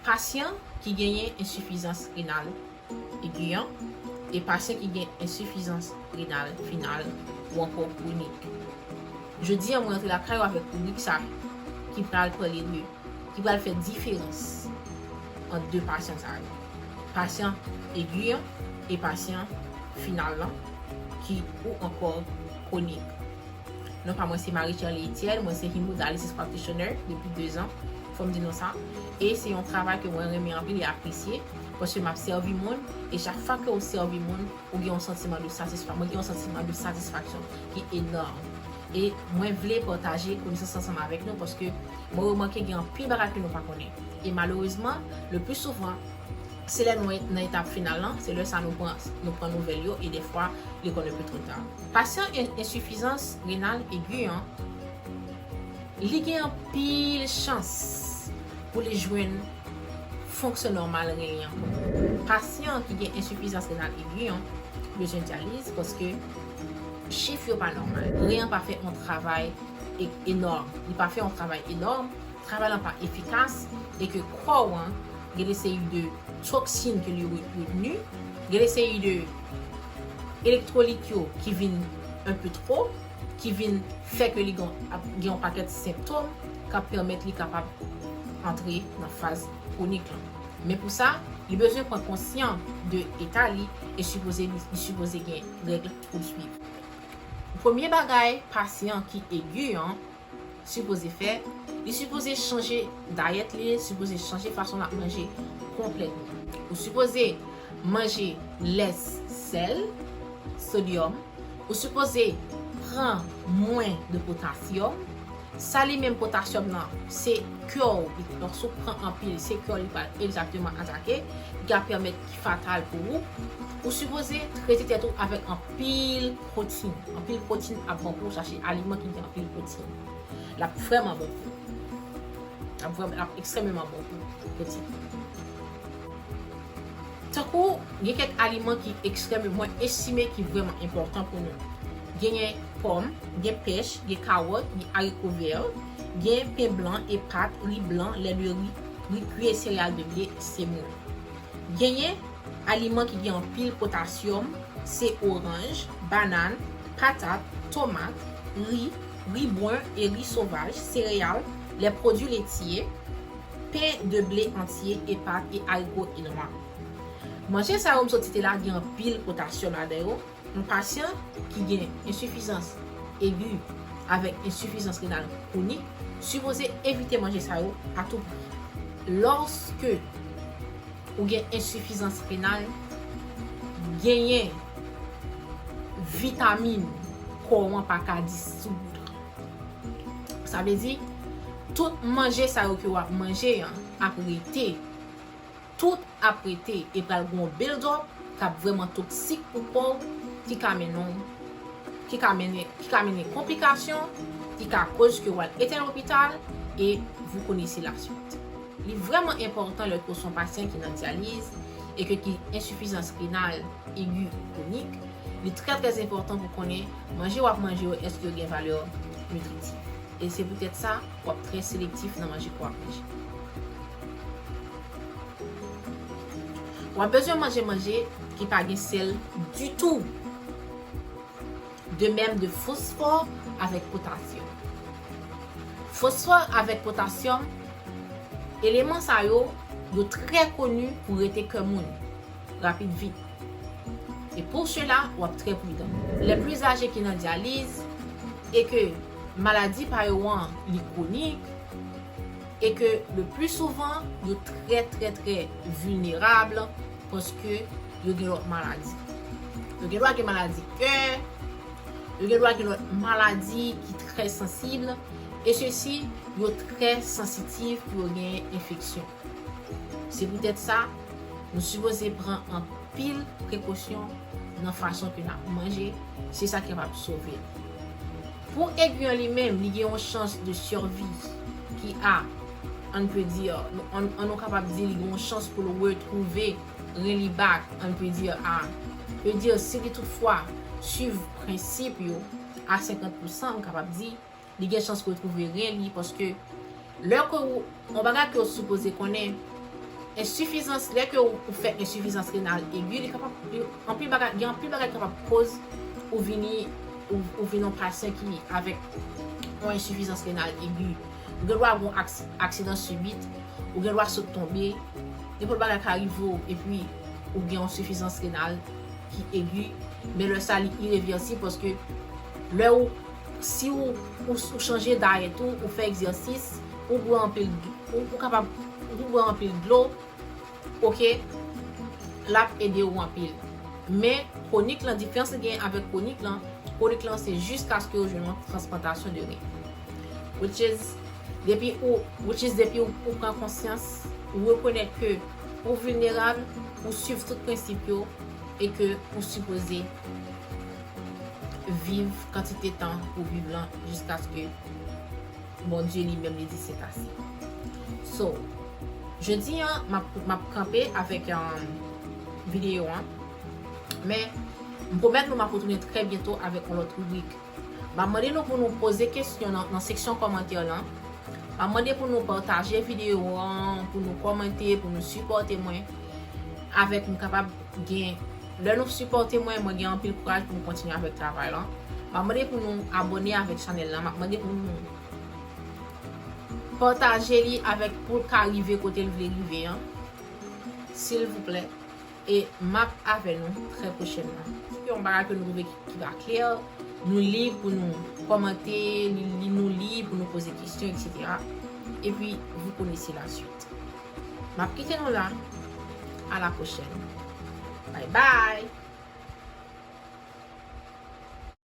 Pasyan ki genyen ensifizans renal egi an e pasyan ki gen ensifizans renal final ou ankò kronik. Jodi an mwen antre lakay ou avèk ribrik sa ki pral pale de, ki pral fè diferans ant 2 pasyan sa yo, pasyan egi an e pasyan final lan ki ou ankò kronik. Non pa mwen se Marie Sherley Etienne, mwen se Hemodialysis Practitioner depi 2 zan. Fò m di nou sa, e se yon travay ke mwen renmen anpil e apresye, paske m ap sèvi moun, e chak fwa ke ou sèvi moun, ou gen yon santiman de satisfa, mwen gen yon santiman de satisfaksyon ki enòm. E mwen vle pataje konesans sa ansanm avèk nou, paske mwen remake gen anpil bagay ke nou pa konnen. E malerezman, le pli souvan, se lè nou nan etap final lan, se lè sa nou pran nou pran nouvèl yo, e dèfwa li konn enpe two ta. Pasyan ensifizans renal egi an. Li gen anpil chans pou li jwenn fonksyon nòmal ren li ankò. Pasyan ki gen ensifizans renal egi an bezwen dyaliz paske chif yo pa nòmal. Ren an pa fè yon travay enòm. Li pa fè yon travay enòm, travay lan pa efikas e ke kò ou an gen de seri de toksin ke li reteni, gen de seri de elektwolit yo ki vin enpe two. ki vin fè ke li ap gen yon pakèt senptom k ap pèmèt li kapab antre nan faz kwonik lan. Men pou sa, li bezwen pran konsyan de eta li e sipoze li sipoze gen règ pou l swiv. Premye bagay pasyan ki egi an sipoze fè, li sipoze chanje dayèt li, li sipoze chanje fason lap manje konplètman. Ou sipoze manje lès sèl, sodyòm, ou sipoze pran mwen de potasyòm, sa li menm potasyòm nan se kè w li donk si w pran anpil se kè w li pral egzakteman atake ki ka pèmèt ki fatal pou ou, ou sipoze trete tèt ou avèk anpil. Pwotin, Anpil pwotin ap bon pou ou chache aliman ki gen anpil pwotin. L ap vrèman bon pou ou. L ap ekstrèmeman bon pou ou, pwotin. Tankou, gen kèk aliman ki ekstrèm, mwen estime ki vrèman enpòtan pou nou. Genyen pòm, gen pèch, gen kawòt, gen ariko vè, gen pen blan e pat, ri blan, lè de ri, ri kwi e sereyal de ble, semoun. Genyen aliman ki gen anpil potasyòm se oranj, banann, patat, tomat, ri, ri bwen e ri sovaj, sereyal, lè pwodui letye, pen de ble antye e pat e arigo e nwa. Manje sa yo m sot site la gen anpil potasyòm ladan yo, Yon pasyan ki gen ensifizans egi avèk ensifizans renal kwonik sipoze evite manje sa yo a tou pri. Lòske ou gen ensifizans renal, genyen vitamin kò ou an pa ka disoudre. Sa vle di, tout manje sa yo ke w ap manje an ap rete. Tout ap rete e pral gen yon build up kap vrèman toksik pou kòw ki ka mennenw ki ka mennen ki ka mennen konplikasyon ki ka koz ke wal etenn lopital e vous connaissez la suite. Li vrèman enpòtan lè ke w son pasyan ki nan dyaliz e ke ki ensifizans renal egi kronik li trè trè enpòtan pou konnen manje wap manje yo eske yo gen valè nitritif e se poutèt sa wap trè selektif nan manje ke wap manje. Wap bezwen manje manje ki pa gen sèl ditou. De mèm de fosfò avèk potasyòm. Fosfò avèk potasyòm, eleman sa yo, yo trè koni pou rete kè moun, rapid vit. E pou sela wap trè pridan. Lè plis aje ki nan dyaliz, e ke maladi pa yo an li kwonik, E ke le pli souvan yo trè trè trè vilnerab paske yo gen lòt maladi. Yo gen dwa gen maladi kè, yo gen dwa gen lòt maladi ki trè sansib e sesi yo trè sansitiv pou yo gen enfeksyon. Se poutèt sa nou sipoze pran anpil prekosyon nan fason ke nap manje, se sa ki kapab sove nou. Pou egri an li menm, li gen yon chans de survi ki a, on ne peut dire, on nou kapab di li gen yon chans pou l retwouve ren li back, on ne peut dire a, peut dire si li tout fwa swiv prensip yo a 50 pousan, m kapab di, li gen chans retwouve ren li paske Lè ke ou, yon bagay ke ou sipoze konnen, ensifizans, lè ke ou fè ensifizans renal egi, li kapab, anpil bagay, gen anpil bagay ki kapab koz ou vini, ou vini yon pasyan ki avèk yon ensifizans renal egi. Ou gen dwa gon aksidan sibit, ou gen dwa sot tonbe, nenpòt bagay ka rive ou epi ou gen yon sifizans renal ki egi, men lè sa li irevirsib paske lè ou Si ou ou chanje dayèt ou, ou fè egzèsis, ou bwè anpil ou kapab ou bwè anpil dlo ok lap ede ou anpil men konik lan diferans li gen avèk konik lan konik lan se jiskaske ou jwenn yon transplantasyon de ren which is depi ou which is depi ou pran konsyans ou rekonèt ke ou vilnerab ou swiv tout prensip yo e ke ou sipoze viv kantite tan ou viv lan jiskaske Bondye li menm li di se pase. So, jodi an m ap kanpe avèk videyo an, men m pwomèt nou m ap retounen trè byento avèk yon lòt ribrik. M ap mande nou pou nou poze kesyon nan seksyon kòmantè lan, m ap mande pou nou pataje videyo an, pou nou kòmante, pou nou sipòte mwen avèk m kapab gen. Lè nou sipòte mwen, mwen gen anpil kouraj pou m kontinye avèk travay lan. Map mande pou nou abone avèk chanèl lan, map mande pou nou pataje li avèk pou l ka rive kote l vle rive an silvouplè e map avè nou trè pwochènman. Gen yon bagay ke nou twouve ki pa klè, nou lib pou nou kòmante, nou lib pou nou poze kesyon etc. Epi, vou konese la swit. Map kite nou la a la prochèn bay bay.